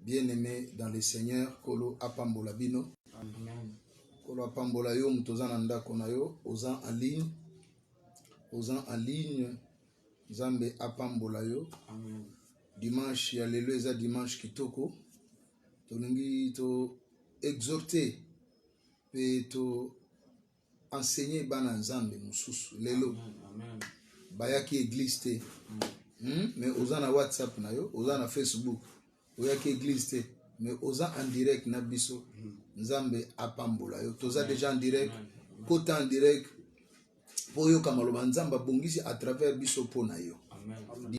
bien aime dans le seigneur nkolo apambola bino nkolo apambola yo moto oza na ndako na yo oza en ligne oza en ligne nzambe apambola yo Amen. dimanche ya lelo eza dimanche kitoko tolingi to exhorte mpe to enseigner bana nzambe mususu lelo bayaki église te hmm? mais oza na whatsapp na yo oza na facebook oyaki église te mais oza en direct na biso nzambe apambola yo toza déjà en direct kota en direct mpo oyoka maloba nzambe abongisi à travers biso mpo na yo Amen.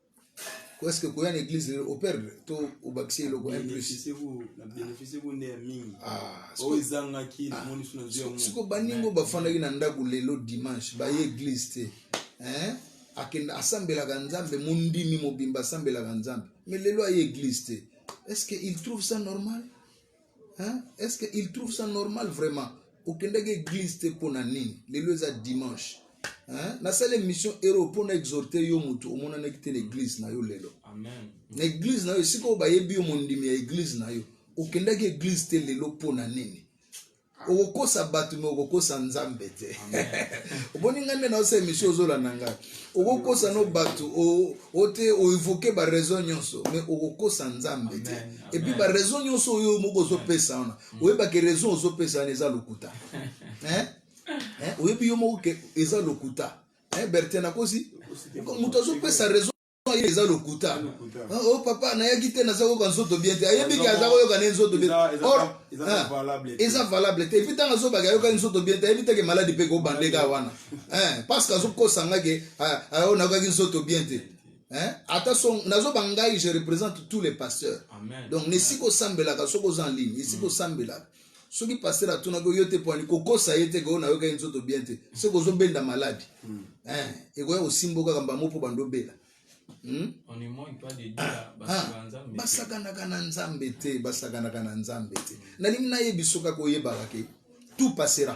Ou est-ce que koya na église lelo operdre to obakisi eloko un plus siko baningo bafandaki na ndako lelo dimanche baye église te akenda asambelaka nzambe mondimi mobimba asambelaka nzambe mais lelo aye église te est-ce que il trouve ça normal Hein? Est-ce qu'il trouve ça normal vraiment okendaki église te mpo na nini lelo eza dimanche hein? nasala émission hero mpo na exhorte yo motu omonanaki te na église na yo lelo na église na yo esika oyo bayebi yo mondimi ya église na yo okendaki église te lelo mpo na nini okokosa bato me okokosa nzambe te omoni ngai nde naosa émission ozolanda ngai okokosa no bato o te o evoke ba raison nyonso mais okokosa nzambe te et puis ba raison nyonso oyo moko ozopesa wana mm. oyeba ke raison ozopesa wana eza lokuta hein hein oyebi yo moko ke eza lokuta hein Bertin nakosi moto azopesa raison ye eza lokuta ah, o oh, papa nayaki te naza koyoka nzoto bien te ayebi ke aza koyoka ne nzoto bien or ah, eza valable te epuis ntango azobaka ayokaki nzoto bien te ayebi te ke maladi mpe kobandeka wana eh, parce que azokosa ngai ke ah, ah, oyo nakokaki nzoto bien te eh, ata so nazoba ngai je représente tous les pasteurs donc na esika osambelaka soki oza en ligne esika mm. osambelaka soki paster atunaki oyo te poani kokosa ye te ke oyo nayokaki nzoto bien te soki ozobenda maladi mm. eh, ekoya kosimba okaka mbamo mpo bandobela Hmm? Ah, ah, basakanaka na nzambe te basakanaka na nzambe te nalingi nayebi soki akoyebaka ke tout passera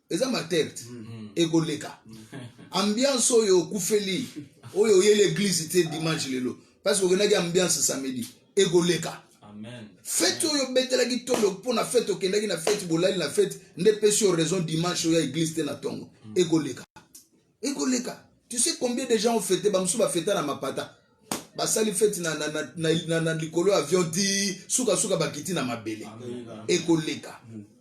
eza materte mm. ekoleka ambiance oyo okufeli oyo oyeli eglise te dimanche lelo parce que okendaki ambiance samedi ekoleka fete oyo obetelaki tolo mpo na fete okendaki na fete bolali na fete nde pesi yo raison dimanche oya eglise te na ntongo mm. ekoleka ekoleka tu sais combien de gens ont fete bamosusu bafeta na mapata basali feti na, na, na, na, na, na likolo ya avion ti sukasuka bakiti na mabele ekoleka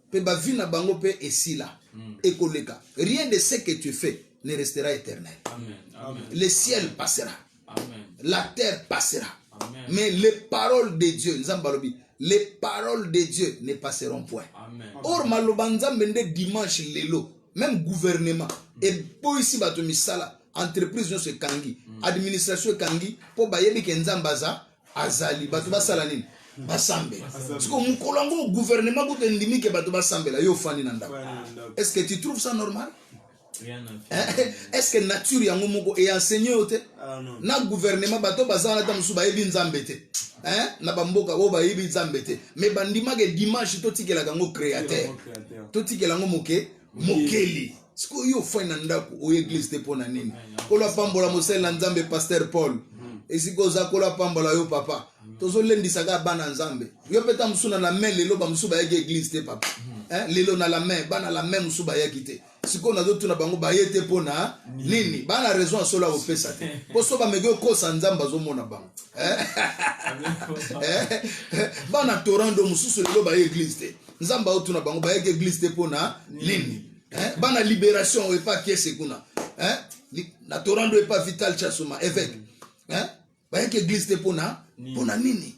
mpe mm. bavi na bango mpe esila mm. ekoleka rien de ce que tu fais ne restera éternel Amen. Amen. le ciel passera la terre passera Amen. mais les paroles de dieu nzambe alobi les paroles de dieu ne passeront point Amen. or maloba nzambe nde dimanche lelo même gouvernement mm. eboyisi bato misala entreprise nyonso ekangi mm. administration ekangi mpo bayebi ke nzambe aza azali bato basala nini basambela siko mokolo yango gouvernement kutu endimi ke bato basambela yo ofandi na ndako est ce que tu trouve ça normal Eh, est ce que nature yango moko eenseigne yo te ah, na gouvernement bato baza wana ata mosusu bayebi nzambe te eh, na bamboka oyo bayebi nzambe te mais bandimaka dimanche totikelaka yango créateur totikela yango moke mokeli sikoyo yo ofai na ndako oyo eglise te mpo na nini kolo apambola mosali na nzambe paster paul hmm. esika oza kolo apambola yo papa hmm. tozolendisaka bana nzambe yo mpe ta mosusu na la main lelo bamosusu bayaki eglise te papa hmm. eh, lelo na la main bana la main mosusu bayaki te sikoyo nazotuna bango baye te mpo na nini baa na raison ya solo ya kopesa te mpo so bameki okosa nzambe azomona bango eh? Eh? bana torando mosusu lelo baye eglise te nzambe aotuna bango bayeki eglise te mpo na nini eh? bana liberation epa kiese kuna na torando epa vital chasuma évêque bayaki eglise te mpo na mpo na nini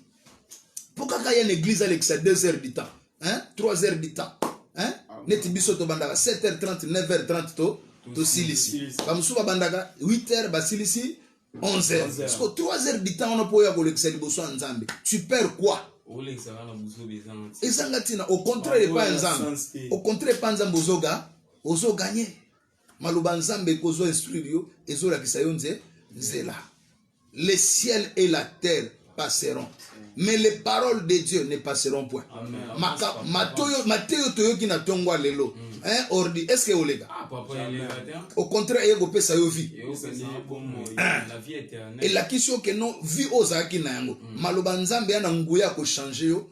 mpo kaka ya na eglise alekisa 2 heures du temps hein? 3 heures du temps hein? Ah, neti biso tobandaka 7 heures 30 9 heures 30 to tosilisi bamosusu babandaka 8 heures basilisi 11 heures parce que 3 heures du temps wana mpo oya kolekisa liboso ya nzambe tu perds quoi ezanga ntina au contraire epai ya nzambe au contraire epai nzambe ozoga ozoganye maloba nzambe ekozwa instruire yo ezolakisa yo nze nzela le ciel et la terre passeront mais les paroles de dieu ne passeront point mateyo toyoki na ntongo ya lelo mm. hein, ordi est ce que oleka ah, au contraire eye kopesa yo vie elakisi yo keno vie oyo ozalaki na yango mm. maloba nzambe ya na nguya ya kochange yo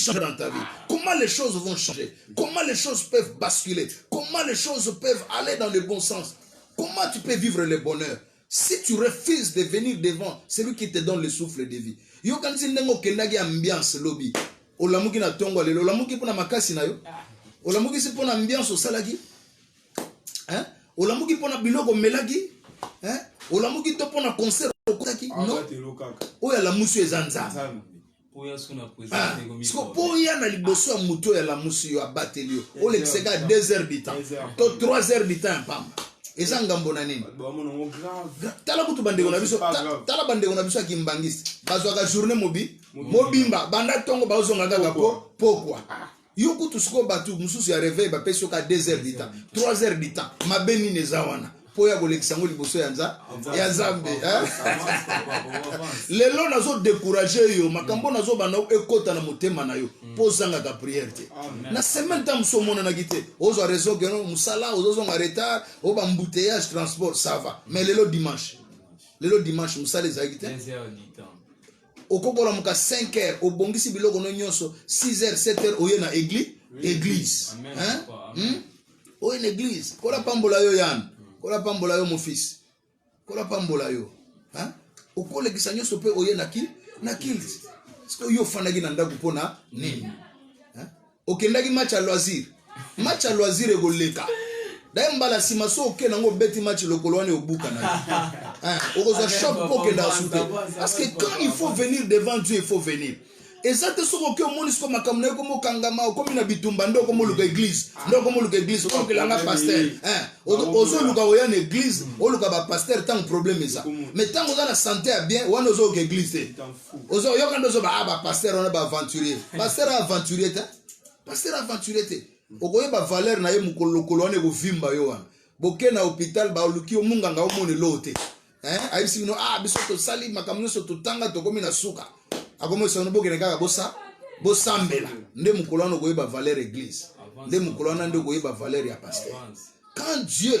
changer dans ta vie Comment les choses vont changer Comment les choses peuvent basculer Comment les choses peuvent aller dans le bon sens Comment tu peux vivre le bonheur si tu refuses de venir devant celui qui te donne le souffle de vie yokanisi ndenge okendaki ambiance lobi olamuki na ntongo lelo olamuki mpo na makasi na yo olamukisi mpo na ambiance osalaki hein? olamuki mpo na biloko omelaki hein? olamuki to mpo na concert okotaki ah, no oyo alamusi eza nzambe siko mpo oya na liboso ya moto oyo alamusi yo abateli yo olekisa kaka 2 heures du temps to 3 heures du temps ya mpamba eza ngambo na nini tala kutu bandeko na biso tala bandeko na biso ya kimbangisi bazwaka journée mobi mobimba banda ntongo baozonga kaka po pokwa ah. yo kutu sikoyo bato mosusu ya reveil bapesi yo ka 2 heures du temps 3 heures du temps mabe nini eza wana mpo ya kolekisa yango liboso ya nza ya nzambe lelo nazo décourage yo makambo nazoba na ekota na motema na yo mpo mm. ozangaka prière te na semaine ntango mosusu omonanaki te ozwa réseau keno mosala ozozonga retard o bambouteillage transport ça va mais lelo dimanche lelo dimanche mosala ezalaki te okoki kolamuka 5 heures obongisi biloko no nyonso 6 heures 7 heures oye na église église hein hmm? oye na église kola pambola yo yan kola pambola yo mon fils kola pambola yo hein okolekisa nyonso mpe oye na ki na kilt sikoyo yo ofandaki na ndako mpo na nini Okendaki match ya loisir? Match ya loisir ekoleka. D'ailleurs mbala sima so oke nango obeti match lokolo wana obuka na. Hein, okozwa choc pour que dans soupe. Parce que quand il faut venir devant Dieu, il faut venir. eza te soki oke omoni siko makambo na yo komi okangama okomi na bitumba nde okomi oluka eglize nde okomi oluka eglize okokelanga paster ozoluka oya na eglize oluka bapaster ntango problème eza mais ntango oza na sante ya bien wana ozoluka eglize te ozo oyoka ndozo ba ah, ba pasteur wana ba aventurier pasteur aventurier te pasteur aventurier te okoyeba valeur na ye mokolo lokolo wana ekovimba yo wana boke na hôpital baluki yo munganga omona eloo te ayebisi bino ah biso tosali makambo nyonso totanga tokomi na suka akomisa bino bokende kaka bosa bosambela nde mokolo wana okoyeba valeur église nde mokolo wana nde okoyeba valeur ya pasteur quand dieu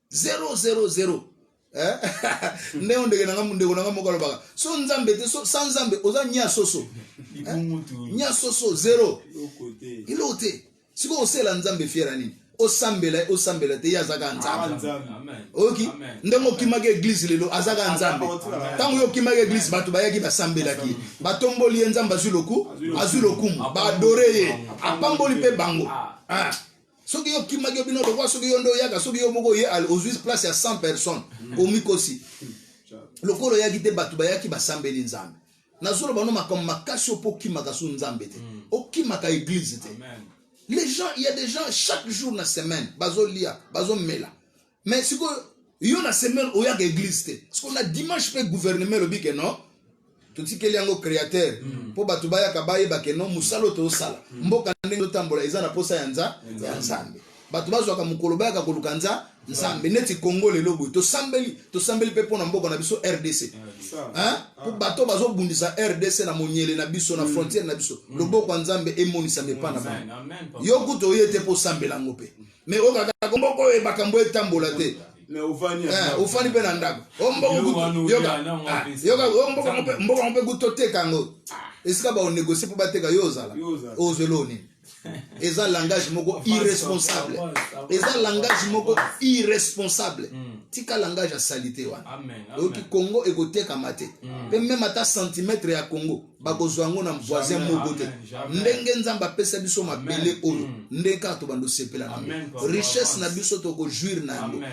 zero zero zero eh? nde o ndeke nanga ndeko nanga moko alobaka so nzambe te so sans nzambe oza nya soso eh? nya soso zero eloko te sikoyo osela nzambe fiera nini osambela ye osambela te ye azaka ah, nzambe oyoki ndenge okimaki eglise lelo azaka ah, nzambe ntango yo okimaki eglise bato bayaki basambelaki ye batomboli ye nzambe azwi loku azwi lokumu baadore ye apamboli mpe bango ah. soki yo kimaki yo bino lokola soki yo nde oyaka soki yo moko oye ozwi place ya 100 personnes mm. omikosi mm. lokola oyaki te bato bayaki basambeli nzambe nazolo bano makambo makasi opo okimaka so nzambe te mm. okimaka eglize te les gens il y a des gens chaque jour na semaine bazolia bazomela mais sikoyo yo na semaine oyaka eglise te sikoyo na dimanche mpe gouvernement elobi ke non totikeli yango créateur hmm. mpo bato bayaka bayeba ke non mosala oyo tosala hmm. mboka ndenge totambola eza na mposa ya nza ya nzambe bato bazwaka mokolo bayaka koluka nza nzambe neti congo lelo boye tosambeli tosambeli mpe mpo na mboka na biso rdc mpo bato bazobundisa rdc na monyele na biso na hmm. frontiere na biso loboko ya nzambe emonisama epa na bango yo kutu oye te mpo osambela yango mpe mais oyo kaka kombo oyo ebakambo etambola te ofandi mpe na ndako mboka ngo mpe kutu oteka yango esika baonegocie mpo bateka yo ozala ozwelo nini eza langage moko irresponsable eza langage moko irresponsable hmm. tika langage ya salite wana oyoki congo ekotekama te mpe hmm. meme ata centimetre ya congo bakozwa yango na voisin moko te ndenge nzambe apesa biso mabele oyo mm. ndenge kaka tobanda osepela na yango richesse na biso tokojuire na yango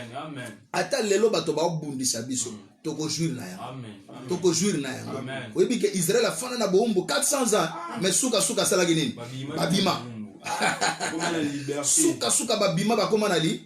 ata lelo bato baobundisa biso mm. tokojuire na yango tokojuire na yango oyebi ke israel afanda na boumbu 400 ans mais sukasuka asalaki nini babima sukasuka babima bakoma na li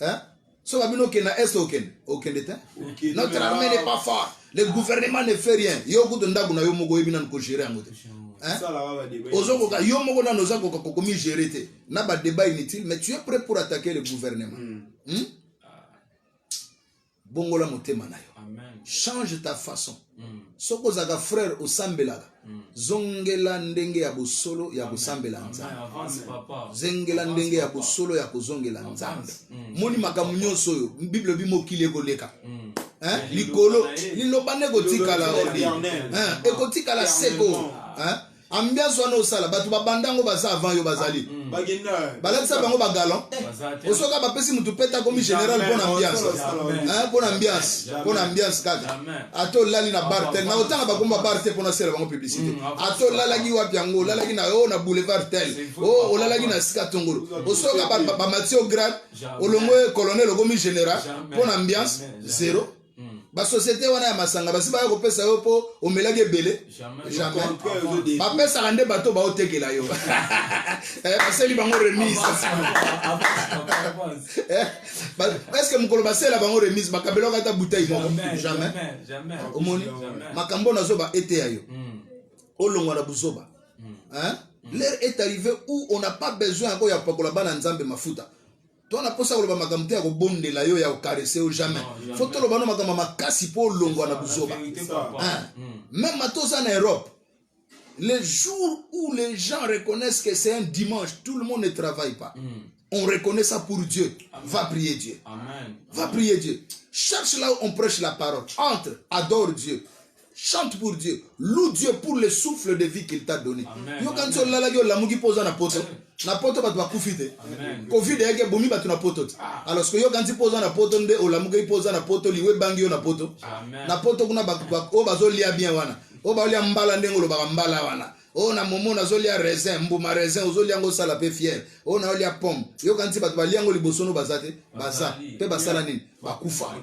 hein soki abino okende na est okende okende te notre armée n'est pas fort le gouvernement ne fait rien yo kutu ndako na yo moko oyebi nanu kogere yango te ozokoka yo moko nanu oza koka kokomi gere te na badébat inutile mais tu es prêt pour attaquer le gouvernement mm. Hmm? bongola motema na yo change ta façon mm. soki ozalaka frère osambelaka mm. zongela ndenge ya bosolo ya kosambela nzambe zengela ndenge ya bosolo ya kozongela nzambe mm. moni makambo nyonso oyo bible ebi mokili ekoleka likolo liloba nde ekotikala ekotikala seko ambiance wana osala bato babanda yango baza avant yo bazali ah, balatisa bango bagalan eh, osoka bapesi motu pete akomi général mpo na ambiance mpo na ambiance mpo na ambiance kaka ata olali na bar tel na otanga bakoma bar te mpo nasela bango publicité mm, ata olalaki wapi yango olalaki na yo na boulevard tel o oh, olalaki na sika tongolo osoka bamati yo grade olongo colonel okomi général mpo na ambiance zero Hmm. basociété wana ya masanga basi baya kopesa yo mpo omelaki ebele jamais bapesaka nde bato baotekela yo eh, baseli bango remise eh, eske mokolo basela bango remise bakabelaka ata butei moko jamais omoni makambo oyo nazoba eteya yo hmm. olongwa na buzoba hmm. l'heure est arrivé où on n'a pas besoin yako ya pakola bana nzambe mafuta to na posa koloba makambo te ya kobondela yo ya kokarese yo jamais fo toloba no makambo makasi mpo olongwa na buzoba meme hmm. ata oza na europe le jour où les gens reconnaissent que c'est un dimanche tout le monde ne travaille pas mm. on reconnaît ça pour Dieu Amen. va prier Dieu Amen. va prier Dieu cherche là où on prêche la parole entre adore Dieu chante pour dieu loue dieu pour le souffle de vie qu'il t'a donné yokanisi olalaki olamuki mpo oza na poto na poto bato bakufi te covid eyaki ebomi bato na poto te ah. alors soki yokanisi mpo oza na poto nde olamukaki mpo oza na poto liwa ebangi yo na poto na poto kuna oyo bazolia bien wana oyo baolia mbala ndenge olobaka mbala wana oyo na momo nazolia raisin mbuma raisin ozolia yango osala mpe fiere oyo naolia pomme yokanisi bato balia yango liboso no baza te baza mpe basala nini bakufa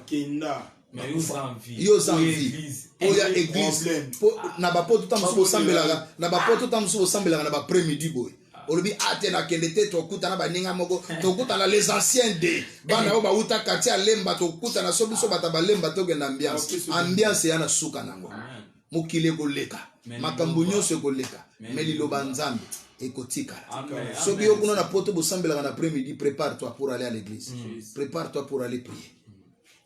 yo oza envie oya eglise na bapoto ntango mosusu bosambelaka na bapoto ntango mosusu bosambelaka na bapre midi boye olobi ate ah, nakende te tokutana baninga moko tokutana les anciens de bana oyo bauta quartier ya lemba tokutana so biso bata balemba tokenda ambiance ambiance ya na suka nango mokili ekoleka makambo nyonso ekoleka me liloba nzambe ekotikala soki yo kuna na poto bosambelaka na après midi prépare toi pour aller à l'église mm. prépare toi pour aller prier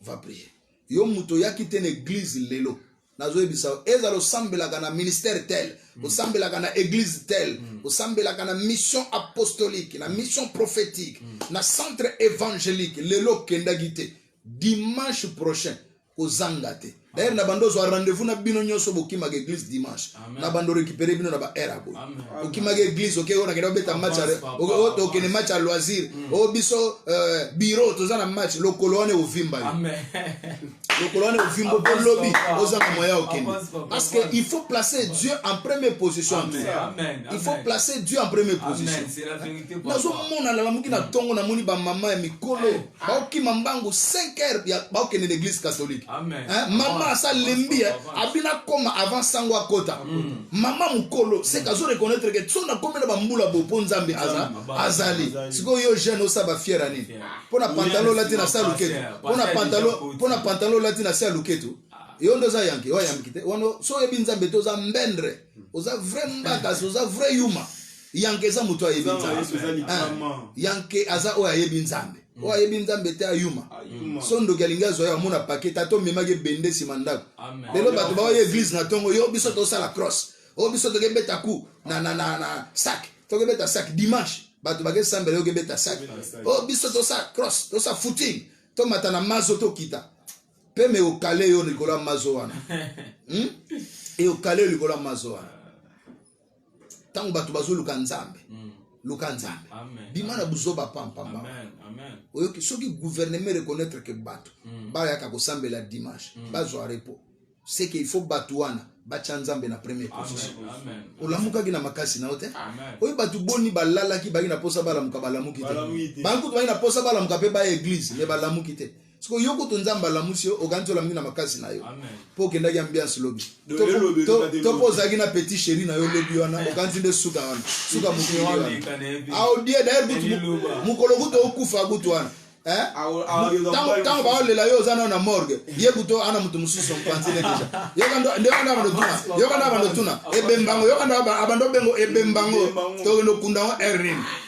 va prier yo moto oyaki te na eglise lelo nazoyebisa yo ezala osambelaka na ministère tel mm. osambelaka na église tel mm. osambelaka na mission apostolique na mission prophétique mm. na centre évangélique lelo okendaki te dimanche prochain kozanga te D'ailleurs na bando zwa rendez-vous na bino nyoso bokimaka église dimanche. Na bando récupérer bino na ba heure boy. Okimaka église okay ona kenda beta match oke oke ne match à loisir. Mm. O oh, biso euh, bureau toza na match lokolo wana ovimba yo. Amen. Lokolo wana ovimba po lobby oza na moya okende. Parce que il faut placer Dieu en première position. Amen. Il faut placer Dieu en première position. Amen. C'est la vérité. Nazo mona la muki na tongo na moni ba maman ya mikolo. Ah. bakokima mbangu 5 heures ya bakokende na église catholique eh, mama asa lembi eh, abina akoma avant sango akota mm. mama mokolo seke azo reconnaître ke so nakomi na bambula bo mpo nzambe azali sikoyo yo jeune osaba fiere nini mpo na pantalo olati na sa luketu mpo na pantalo olati na se ya luketu yo nde oza yanke oyamiki te wana so oyebi nzambe te oza mbendre oza vrai mbakasi oza vrai yuma yanke eza moto ayebi nzambe yanke aza oyo ayebi nzambe oyo ayebi nzambe te ayuma so ndoki alingi azwa yo amona pake tata omemaki ebende nsima ndako lelo bato baoya eglize na ntongo yo biso tosala cross oyo biso tokebeta ku na, na, na, na sak tokebeta sak dimanche bato bakesambela yo kebeta sak oyo biso tosa cross tosa footing tomata na mazo tokita mpe me okale yo likolo ya mazo wana hmm? eokale yo likolo ya mazo wana ntango bato bazoluka nzambe mm. luka nzambe bima na buzoba pampamba oyoki soki gouvernement ereconnaitre ke bato mm. bayaka kosambela dimanche mm. bazwa repos seke il faut bato wana batya nzambe na premier position olamukaki na makasi na yo te oyo bato boni balalaki bayi na mposa balamuka balamuki te bankutu bayi na mposa balamuka mpe baya eglize me balamuki te siko yo kutu nzambe alamusi yo okanisi olamuki na makasi na yo mpo okendaki ambiance lobi to mpo ozalaki na petit chéri na yo lobi wana eh. okanisi nde suka wana suka mokili wana aodie ah, dayer kutu mokolo kutu okufa kutu wana eh? ntango baolela yo oza nao na morgue ye kutu ana moto mosusu mpanzi nde deja nde wana abando tuna yoka nde abando tuna ebembango yoka nde abando bengo ebembango tokende okunda yango errine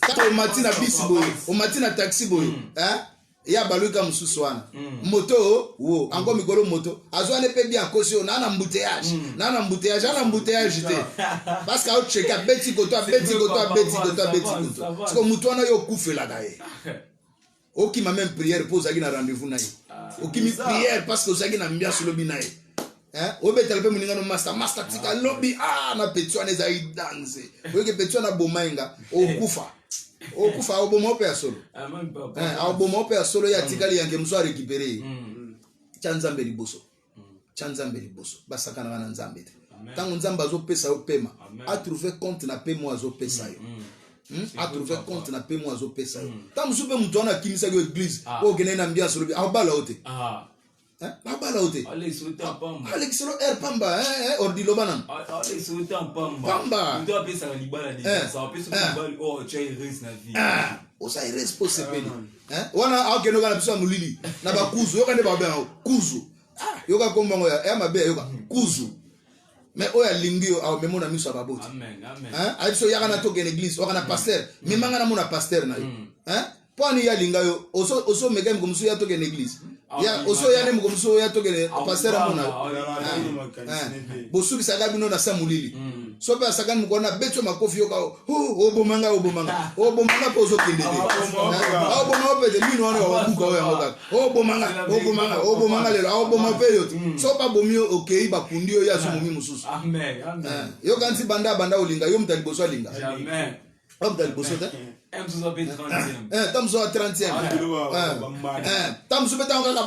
kaka omati na bisi boye omati na taxi boye mm. eh? ya baluka mosusu wana mm. moto wo ango mikolo moto azwani mpe bi akosi oyo naa na mbuteyage mm. naa na mbuteyage ana mbuteyage te parce que aocheke abeti koto abeti koto abeti koto abeti koto siko moto wana yo okufelaka ye okima meme prière mpo ozalaki na rendez-vous na ye ah, okimi prière parce que ozalaki na ambiance olobi na ye obetala mpe moningano masta masta tika lobi ah, na peti wana ezalaki danze oyoki peti wana aboma ye nga okufa okufa aoboma ope ya solo ah, eh, aoboma ope ya solo ye atikali yanke mosu arekipere ye mm, mm. tya nzambe liboso tya nzambe liboso basakanaka na nzambe te ntango nzambe azopesa yo pema atrouve compte na pema oyo azopesa yo mm, mm. hmm? atrouve compte na pema oyo azopesa yo ntango mm. mosusu mpe moto wana akimisaki yo eglise ah. oyo okendaki na ambiance olobi abala yo te ah. eh, abala yo te alekiselo ah, air pamba eh, eh, ordi loba nano pamba oza erese mpo osepeli eh, wana akende oka na biso ya molili na bakuzu yoka nde bakobe yango kuzu ah, yoka nkombo yango ya mabe yoka kuzu me oyo alingi yo amema na miso ya baboti ayebi so yaka na toke na eglise oka na paster memanga na mona paster na yo mm. eh, mpo ani ye alinga yo osomeka miko mosusu ya toke na eglise ya oso ya ne moko muso ya tokele pasteur amona bosukisaka bino na sa molili soki asakani mokona betso makofi yoka oboma ngai oboma ngai oboma ngai mpo ozokende te oboma yo pete mino wana wabuka oyo yango kaka oboma ngai oboma ngai oboma ngai lelo oboma mpe yo te so babomi yo okei bakundi yo ye azomomi mosusu yo kanisi banda banda olinga yo moto ya liboso alinga yo moto ya liboso te ntango mosusu ya 30 ntango mosusu mpe ntango kaka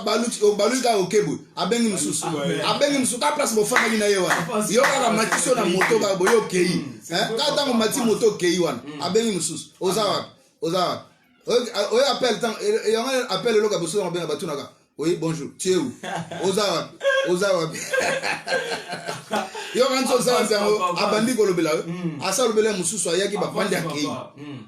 obaluki kaka okebwe abengi mosusu abengi mosusu kaka place bofandaki na ye wana yo kaka matisi yo na moto kaka boye okei kaka ntango mati moto okei wana hmm. abengi mosusu oza wapi oza wapi oyo appel ntango yango appel eloka bosusu yango benga batunaka oui bonjour tie u oza wapi oza wapi yo kanisi oza wapi yango abandi kolobela yo hmm. asa alobela mosusu ayaki bapandi akei hmm.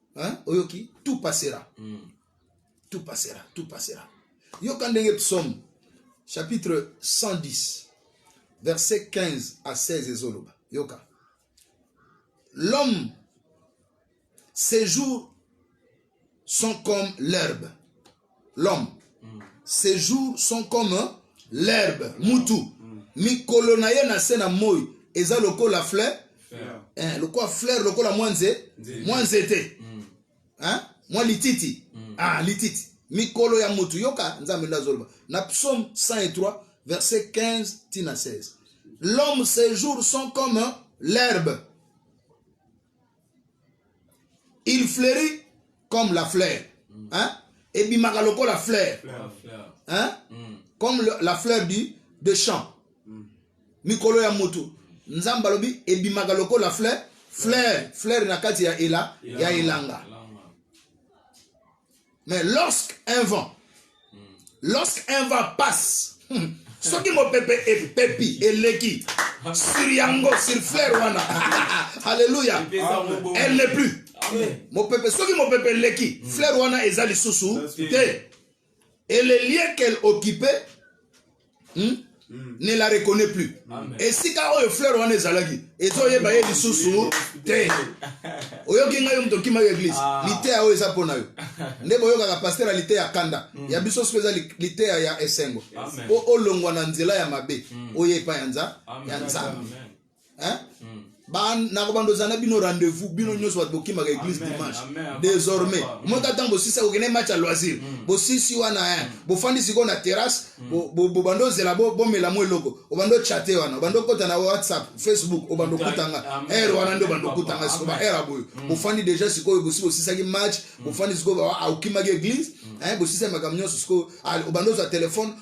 hein oyoki tout passera mm. tout passera tout passera yoka ndenge psaume chapitre 110 verset 15 à 16 ezoloba yoka l'homme ses jours sont comme l'herbe l'homme ces jours sont comme l'herbe mutu mikolo na ye na se na moi eza lokola fleur eh, lokola fleur lokola mwa nze mwa nzete mm. eh, mwa lititi mm. ah, lititi mikolo ya mutu yoka nzambe nde azoloba na psaume 103 verset 15 tina 16 l'homme ses jours sont comme l'herbe il fleurit comme la fleur mm. hein? ebimaka lokola fleur hein? Mm. comme le, la fleur du, de champ mm. mikolo ya motu nzambe alobi ebimaka lokola fleur fleur fleur na kati ya, ela, ya elanga mais lorsque un vent lorsque un vent passe soki mopepe epepi eleki sur yango sur fleur wana alleluya elle n'est plus mopepe soki mopepe eleki fleur wana eza lisusu te et le lien qu'elle occupait hmm? Hmm. ne la reconnais plus esika oyo fleur wana ezalaki ezoyeba ye lisusu te oyoki ngai yo moto okima yo eglise ah. liteya oyo eza mpo na yo nde boyokaka paster ya liteya kanda hmm. ya biso soki eza liteya ya esengo mpo olongwa na nzela ya mabe oyo epa ya nzambe hein hmm. ba na kobanda oza na bino rendez-vous bino hmm. nyonso bato bokimaka église dimanche désormais omota ntango bosisa kokende match ya loisir hmm. bosisi wana hein bofandi sikoyo na terrasse bobanda ozela bomela mwa eloko obanda ochate wana obanda okota na whatsapp facebook obanda okutanga aire wana nde obanda okutanga sikoyo ba aire aboyo bofandi déjà sikoyo bosi bosisaki match bofandi sikoyo okimaki église bosisaki makambo nyonso sikoyo obanda ozwa telefone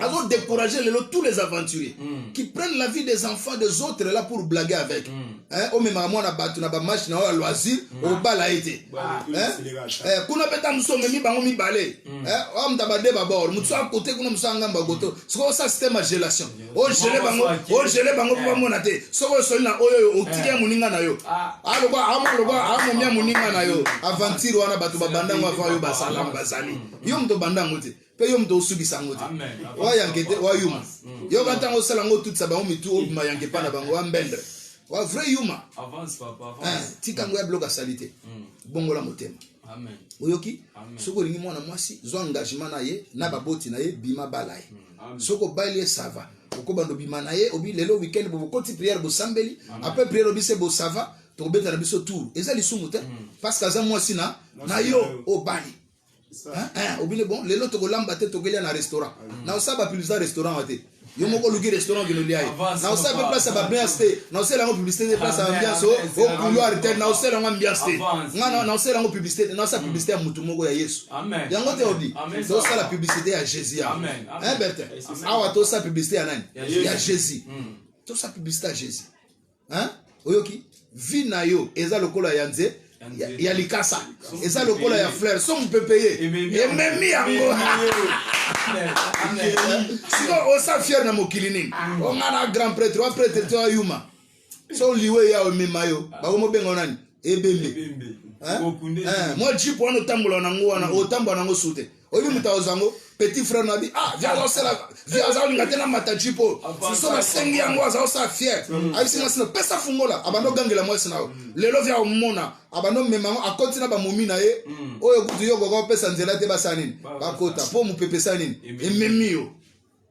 azo décourager lelo tous les aventuriers mm. qui prennent la vie des enfants des autres là pour blaguer avec mm. hein, omemaka mwana bato na bamatch na oyo ya loisir mm. obala ye te eh, kuna mpe ta mosu omemi bango mibale mm. eh, oyo moto abade babor motu a kote kuna mosu angamba koto soki osa système ya gelation ogele oh, bango ogele oh, bango mpo eh. bamona te soki osoli na oyo oyo otiki ya eh. moninga na yo aloba ah. ah, aloba ah, amomi ya moninga na yo aventure wana bato babanda yango avant yo basala yango bazali mm. yo moto obanda yango te mpe yo moto osukisa yango te oayanke te oayuma yoka ntango osala yango otutisa bango mitu obima yanke epai na bango wambendre wa vrai yuma tika yango ya biloko asali te bongola motema oyoki soki olingi mwana mwasi zwa engagement na ye na baboti na ye bima bala ye soki obali ye sava okobanda obima na ye obi lelo weekend bokoti priere bosambeli apres priere obi se bosava tokobeta na biso tour eza lisumu te parce que aza mwasi na na yo obali Ah, ah, obine bon lelo tokolamba te tokelia na restaurant ah, na osa bapiblisita restaurant wa te yo moko oluki restaurant okende olia ye na osa mpe place ya babiance te na osala yango publicité te place ya ambiance o couloir te na osala yango ambiance te nga na osala yango publicité te na osala publicité ya motu moko ya yesu yango te obi tosala publicité ya jésus ya bertin awa tosala publicité ya nani ya jésus tosala publicité ya jésus hein oyoki vie na yo eza lokola ya nze ya, ya likasa eza lokola ya fleur so mopepe ye ememi yango siko osa fiere na mokili nini onga na grand prêtre wa prêtre to ayuma so liwe ya omema yo bakomobenga nani ebembe mwa jipe wana otambola nango wana otambola nango sute oyebi moto aoza yango petit frère na bi ah vi azosala vi azalinga te na mataji po soso nasengi yango azosala fier mm. ayebisi mwasi na pesa fungola abanda ogangela mwasi na yo mm. lelo vi aomona abanda omema yango akoti na bamomi na ye mm. oyo kutu yo okoka opesa nzela te basala nini bakota po mopepe esala nini ememi yo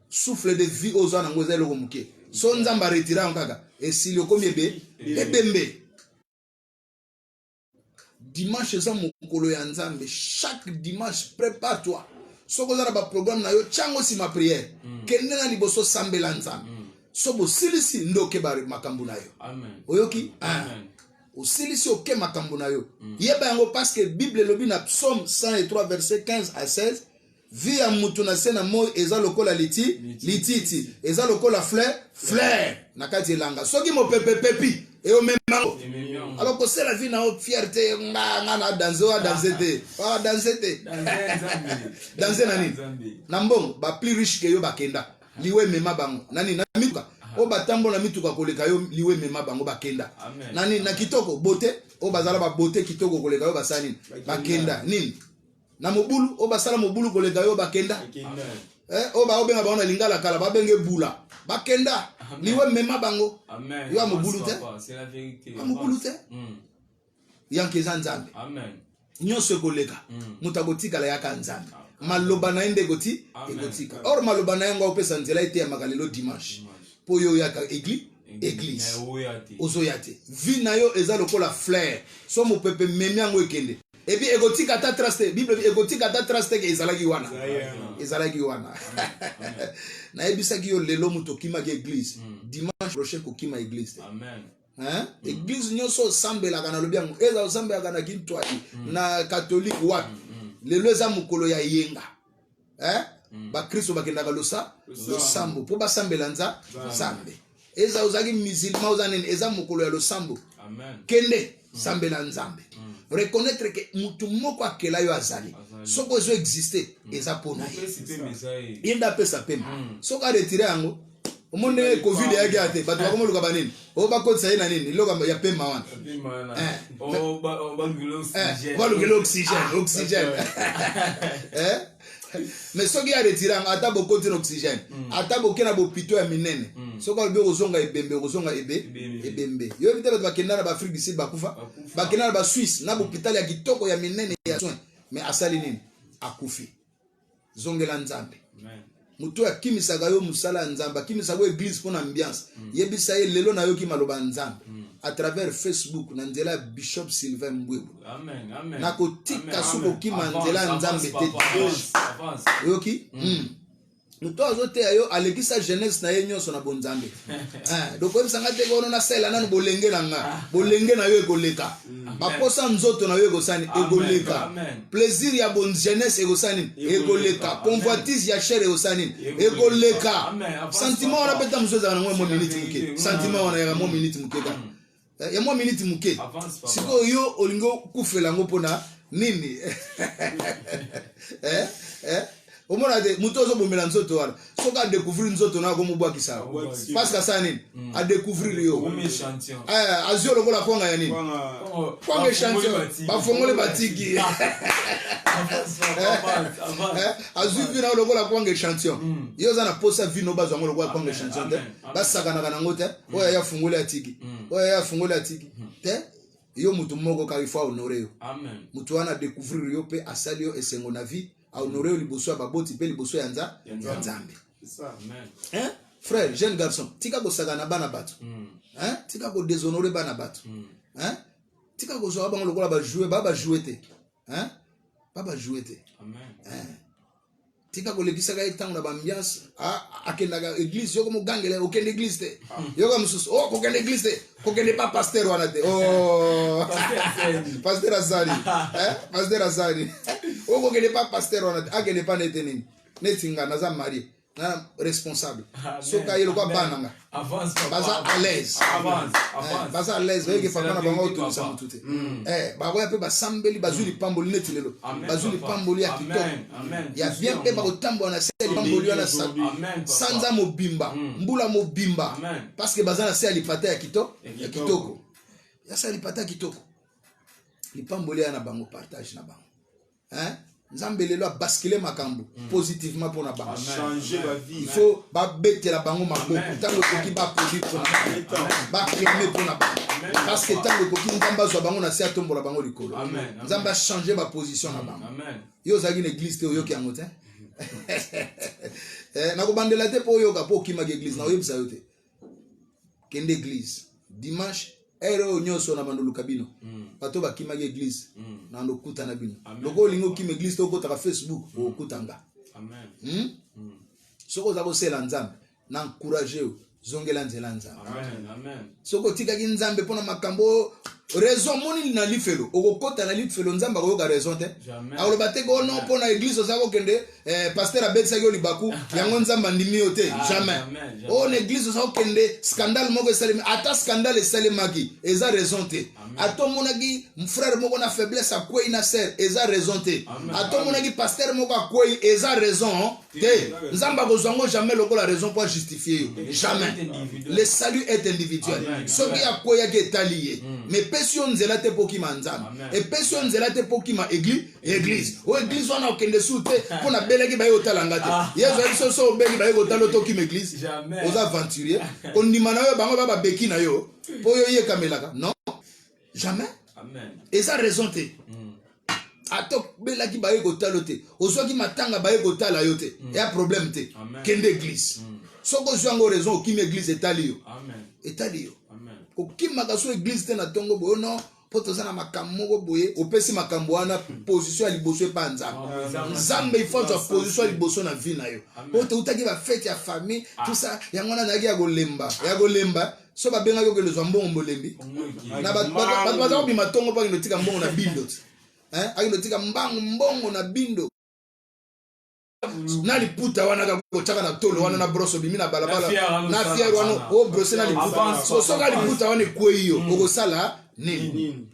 souffle de vie oyo oza nango eza eloko moke so nzambe aretira yango kaka esili okomi ebe ebembe dimanche eza mokolo ya nzambe chaque dimanche prépare toi soki oza na baprogramme na yo tyango nsima prière mm. kende na liboso sambela nzambe mm. so bosilisi nde oke makambo na yo oyoki ah. osilisi oke makambo na yo mm. yeba yango parceke bible elobi na psaume 103 verset 15 à 16 Vie ya mutu na se na moi eza lokola liti lititi eza lokola fleur fleur na kati elanga soki mopepe epepi eyomemango alors kosela vie na yo fierte nga nga na danse oyo adanse te oyo adanse te danse na nini na mbongo ba plus riche ke yo bakenda liwe emema bango na nini na mituka oyo batambola na mituka koleka yo liwe emema bango bakenda na nini na kitoko bote oyo bazala babote kitoko koleka yo basala nini bakenda nini na mobulu oyo basala mobulu koleka yo bakenda eh, oyo baobenga bango na lingala kala babenge bula bakenda liwe mema bango yo ya mobulu te ya mobulu te hmm. yanke eza nzambe nyonso ekoleka hmm. moto akotikala yaka nzambe maloba na ye nde ekoti ekotika or maloba na ye yango aopesa nzela eteyamaka lelo dimanche mpo yo oyaka eglise eglise ozoya te vie na yo eza lokola flaire so mopepe memi yango ekende Et puis ekotika ta trace te bible ekotika ta trace te ke ezalaki wana ezalaki wana nayebisaki yo lelo moto okimaki église mm. dimanche prochain kokima église te Amen. Hein? Mm. église nyonso osambelaka nalobi yango eza osambelaka na kintwai mm. na katolike wapi lelo eza mokolo ya yenga eh? mm. bakristo bakendaka losa losambo mpo basambela nza nzambe eza ozalaki musulman oza nini eza mokolo ya losambo kende mm. sambela nzambe mm. reconnaître ke motu moko akela yo azali soki ozo existe eza mpo na ye ye nde apesa pema soki aretire yango omoni ndenge covid eyaki ya te bato eh. bakomoluka banini oyo bakotisa ye na nini eloko ya pema wana balukela oxygène oxygène mais soki ya retiranga ata bokoti na oxygène hmm. ata boke na bopito ya minene hmm. soki alobi okozonga ebembe okozonga ebe ebembe yoyebi te bato bakenda na baafrike du sud bakufa bakenda na basuisse na bopitale ya kitoko ya minene ya soin mais asali nini akufi zongela nzambe moto oyo akimisaka yo mosala ya nzambe akimisaka yo eglise mpo na ambiance mm. yebisa ye lelo nayoki maloba ya nzambe mm. à travers facebook na nzela ya bishop sylvain mbwebo nakotika soki okima nzela ya nzambe te oyoki mm. moto azoteya yo alekisa jeunesse na ye nyonso na bonzambe eh, dokoyebisa ngai te kono nasala nano bolenge na nga ah. bolenge na yo ekoleka baposa nzoto na yo ekosani ekoleka plaisir ya bon jeunesse ekosani ekoleka convoitise ya chere ekosani ekoleka sentiment wana mpe ta mosusu ezala nango mwa minute moke sentiment wana yaka mwa minute moke kaka eh, ya mwa miniti moke sikoyo yo olingi okufela yango mpona nini eh, eh? omona te moto ozobomela nzoto wana soki adecouvrir nzoto na akomobwakisa yango parce que asala nini mm. adecouvrir yo eh, azwi lokola kwanga ya nini kwanga echantillon bafongoli batiki eh, eh, azwi vi na lokola kwanga echantillon mm. yo oza na posa vi no bazwa yango lokola kwanga echantillon te basakanaka nango te mm. oyo aya afungoli atiki mm. oyo aya afungoli atiki mm. te yo motu moko kaka ifo ahonore yo motu wana adécouvrir yo mpe asali yo esengo na vie ahonore yo liboso ya baboti mpe liboso ya nza ya nzambe frère jeune garçon tika kosaka na bana bato tika kodéshonore bana bato tika kozwaka bango lokola bajoue ba bajoue te ba bajoue te tika kolekisaka ye ntango na baambiance akendaka eglise yoko mogangela ye okende eglise te ah. yoka mosusu o oh, kokende eglise te kokende pa paster wana te oh. paster azali eh, paster azali o oh, kokende pa paster wana te akende pa nete nini neti nga naza marie na responsable soki aye lokwa bana nga baza à l'aise eh, baza à l'aise bayeke papa na bango otongisa motu te mm. eh, bakoya mpe basambeli bazwi mm. lipamboli neti lelo bazwi lipamboli ya kitoko ya bien mpe bakotambola na se ya lipamboli wana sanza mobimba mm. mbula mobimba parce que baza na se ya lipata ya kitoko ya kitoko ya se ya lipata ya kitoko lipamboli ya na bango partage na bango hein nzambe lelo abaskile makambo mm. positivement mpo na bango il faut babetela bango maboko ntango ekoki baproduit mpo na baprime mpo na bango parce que ntango ekoki nzambe azwa bango na se atombola bango likolo nzambe achange baposition na bango yo ozalaki na eglise te oyoki yango te eh, nakobandela te mpo oyoka mpo okimaki eglise na oyebisa yo te kende eglise dimanche ere oyo nyonso na bando luka bino mm. bato bakimaki eglise mm. na lokuta na bino lokola olingi okima eglise to okotaka facebook mm. okokuta nga hmm? soki oza kosela nzambe na encourage yo zongela nzela nzambe soki otikaki nzambe mpo na makambo oyo raison moni na lifelo okokota na lifelo nzambe akoyoka raison te akoloba te ko oh non mpo na eglise oza kokende Eh, pasteur abekisaki yo libaku yango nzambe andimi yo te ah, jamais oyo oh, na eglise oza kokende scandale moko esalemi ata scandale esalemaki eza raison te ata omonaki frere moko na faiblesse akwei na sere eza raison te ata omonaki pasteur moko akwei eza raison te nzambe akozwa yango jamais lokola raison mpo ajustifie yo jamais le salut est individuel soki akweyaki etali ye hmm. mais epesi yo nzela te mpo okima nzambe epesi yo nzela te mpo okima eglise eglise o eglise wana okende su te mpo nabelaki baye kotala nga te ah. yesu ayebi so so obeli baye kotala otokima eglise oza aventurier kondima na yo bango ba babeki na yo mpo yo yekamelaka non jamais eza raison te hmm. ata obelaki baye kotala te ozwaki matanga baye kotala yo te hmm. eya problème te kende eglise hmm. soki ozwi yango raison okimi eglise etali yo etali yo kokimaka so eglise te na ntongo boyo non mpo toza na makambo moko boye opesi makambo wana position ya liboso epa nzambe nzambe ifanzwa position ya liboso na vie na yo mpo toutaki bafete ya famille ah. tusa yango wana nayaki ya kolemba ya kolemba so babengaki okende ozwa mbongo mbolembi na bato baza kobima ntongo mpo akende otika mbongo na bindo ti akende otika mbango mbongo na bindo na liputa wana kaka kotyaka na tolo wana na broso obimi na balabala na fiere wana obrose na liputa sosoka liputa wana ekwei yo mm. okosala nini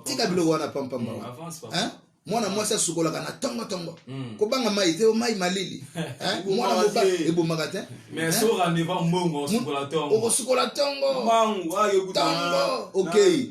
tika biloko wana pampamba mm, wana mwana mwasi asukolaka na tongo tongo mm. kobanga mai te mai malili mwana mobali ebomaka te okosukola tongo tongo okei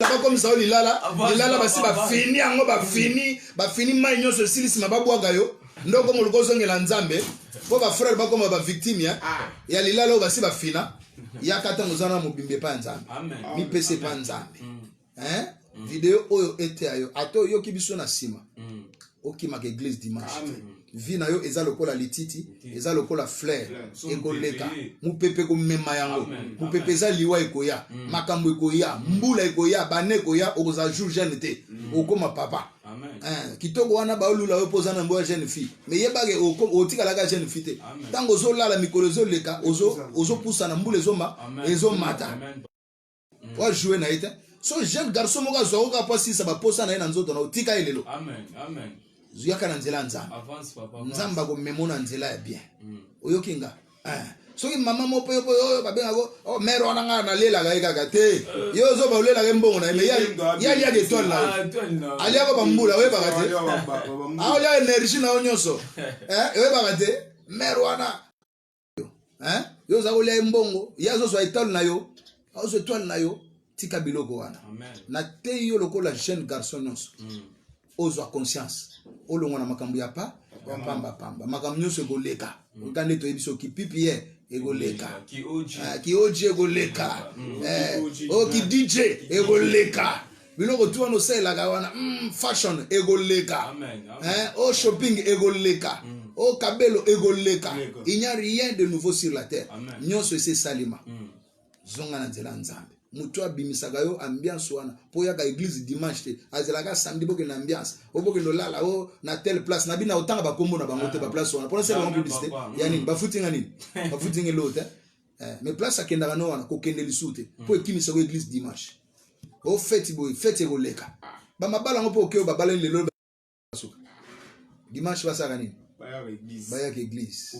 bakomisa yo lilala lilala basi bafini yango bafini bafini mai nyonso esili nsima babwaga yo nde okoma oluka ozongela nzambe mpo bafrere bakoma bavictime ya, ah. ya lilala oyo basi bafina yaka ntango oza na mobimba epai ya nzambe mipesa epai ya nzambe mm. video oyo eteya yo ata oyoki biso na nsima mm. okimaka eglise dimanche te vie na yo eza lokola lititi eza lokola flair ekoleka mopepe ekomema yango mopepe eza liwa ekoya mm. makambo ekoya mm. mbula ekoya bane ekoya okozala jour jeune te mm. okoma papa eh, kitoko wana baolula yo mpo oza na mbo ya jeune fille me yebake otikalaka jeune fille te ntango ozolala mikolo ezoleka ozopusana mbula ezomba ezomata mm. oa joue na ye te so jeune garçon moko azwa oka mpo asilisa baposa na ye na nzoto na otika ye lelo yaka na nzela ya nzambe nzambe akomemo na nzela ya bien mm. oyoki nga eh. soki mama moko mpe mpo oyo babengako oh, mere wana ngai nalelaka ye kaka te eh. ye ozoba olelaka ye mbongo na ye me ye aliaka etoile na ye ah, aliaka bambula oyebaka te aolia ah, energie na yo nyonso eh, oyebaka te mere wana yo hein yo za kolia mbongo ye azozwa etale na yo azozwa etwale na yo tika biloko wana nateyi yo lokola jeune garçon nyonso mm. ozwa conscience olongwa na makambo ya pa ya pamba pamba makambo nyonso ekoleka mm. oka nde toyebi so kipipi ye ekoleka kioji ah, ekoleka okidj eh, ekoleka biloko tu wana osalelaka wana mm, fashion ekoleka hein, o oh, shopping ekoleka mm. o oh, kabelo ekoleka il n'y a rien de nouveau sur la terre nyonso esi esalema mm. zonga na nzela ya nzambe moto abimisaka yo ambiance wana mpo oyaka eglise dimanche te azelaka samedi bokende ambiance o bokende olala o oh, na tele place na bino otanga bakombo na bango te ah. baplace wana mpona sela bango publicité ya nini bafuti nga nini bafuti nga eloo te eh, mais place akendaka no wana kokende lisusu te mpo mm. ekimisa ko église dimanche o feti boye feti ekoleka bamabala yango mpo okeyo babalani lelo basuka dimanche basalaka nini bayaka église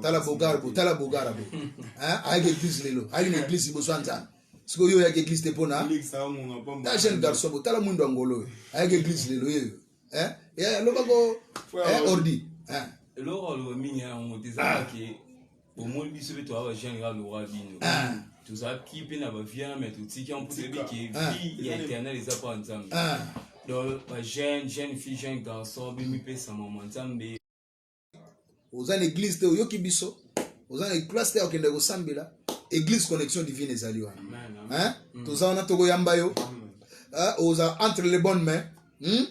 tala bogara bo tala bogara bo ayaka église lelo ayaki na église liboso ya nzambe sikoyo yo oyaka église te mpona ta jeune garçon bo tala mwindo ya ngolo oyo ayaka église lelo yeyo alobako ordi eloko aloba mingi yango te ezalaki omoni biso mpe toya bajeune ya lora bino ah. tozalaki mpe na bavia me totiki yango mpo toyebi ke ah. vie ya éternel eza mpo ya nzambe ah. donc bajeune jeune fille jeune garçon bimipesa mama nzambe oza na église te oyoki biso oza na classe te okende kosambela église connexion divine ezali wana mm. toza wana tokoyamba yo oza entre les bonnes mains hmm?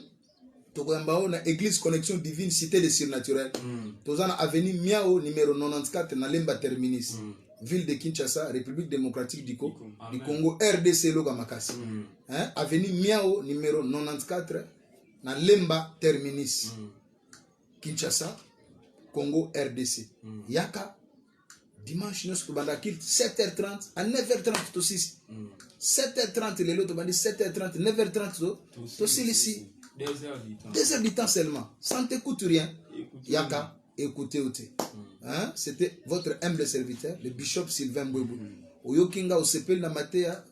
tokoyamba o na église connexion divine cité de surnaturel mm. toza na avenue miao numéro 94 na lemba terminus mm. ville de kinshasa république démocratique du, Co du congo rdc eloka makasi mm. hein? avenue miao numéro 94 na lemba terminus mm. kinshasa congo rdc mm. yaka dimanche nyonso tobanda kilte 7h30 à 9h30 tosisi 7h30 mm. lelo tobandi 7h30 9h30 tosilisi 2h du temps seulement sans t'écoute rien yaka écoutez ou te mm. hein? c'était votre humble serviteur le bishop sylvain mbwebu mm. oyoki nga osepeli na mateya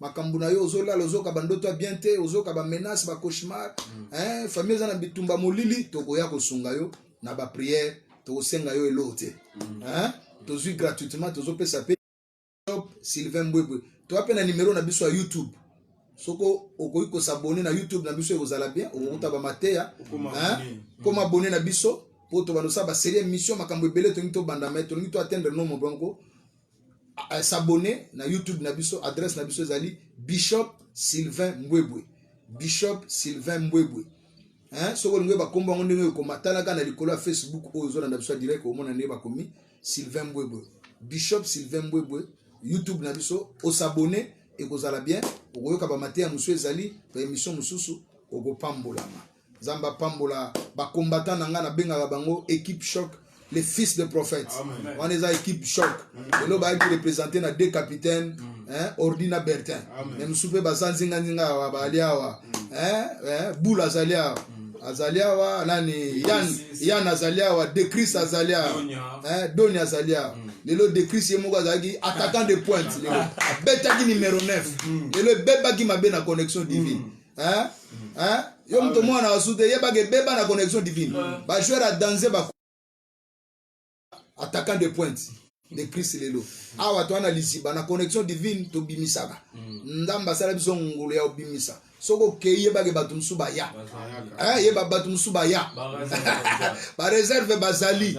makambo na yo ozolala ozoka bandoto ya bien te ozoka bamenace bacauchemar mm. eh, famille eza na bitumba molili tokoya kosunga yo na bapriere tokosenga yo eloko te mm. eh, tozwi gratuitement tozopesa mpe sylvain mbwebwe toya mpe na nimero na biso ya youtube soko okoki kosabone na youtube na biso ekozala bien okokuta mm. bamateya koma abone na biso mpo tobanda osala baserie émission makambo ebele tolingi tobanda mai tolingi to atteindre nombre yango euh, s'abonner na YouTube na biso, adresse na biso ezali Bishop Sylvain Mbwebwe. Bishop Sylvain Mbwebwe. Hein, soko lingo ba kombo ngo ndenge ko matalaka na likolo ya Facebook oyo zo na biso direct omona ndenge ba komi Sylvain Mbwebwe. Bishop Sylvain Mbwebwe YouTube na biso o s'abonner ekozala bien okoyoka ba mateya mosusu ezali ba émission mosusu okopambolama. nzambe apambola bacombatant na ngai nabengaka bango equipe choc les fils de prophète wana eza equipe choc lelo bayaki représente na deux capitaine hein, ordi na bertin me mosusu mpe baza nzinganzinga awa baali awa bule azali awa azali awa nani yan azali awa decris azali awa doni azali awa lelo decris ye moko azalaki attaquant de pointe lelo abetaki numero 9 lelo ebebaki mabe na connexion divine hein hein yo moto mwana wa sute yebaka ebeba na connexion divine ba joueur ya danse ba attaquant de pointe de christ lelo awa to ana lisiba na connexion divine tobimisaka mm. nzambe asala biso ngulu ya obimisa soki okei yebake bato mosusu baya eh, yeba bato mosusu baya bareserve bazali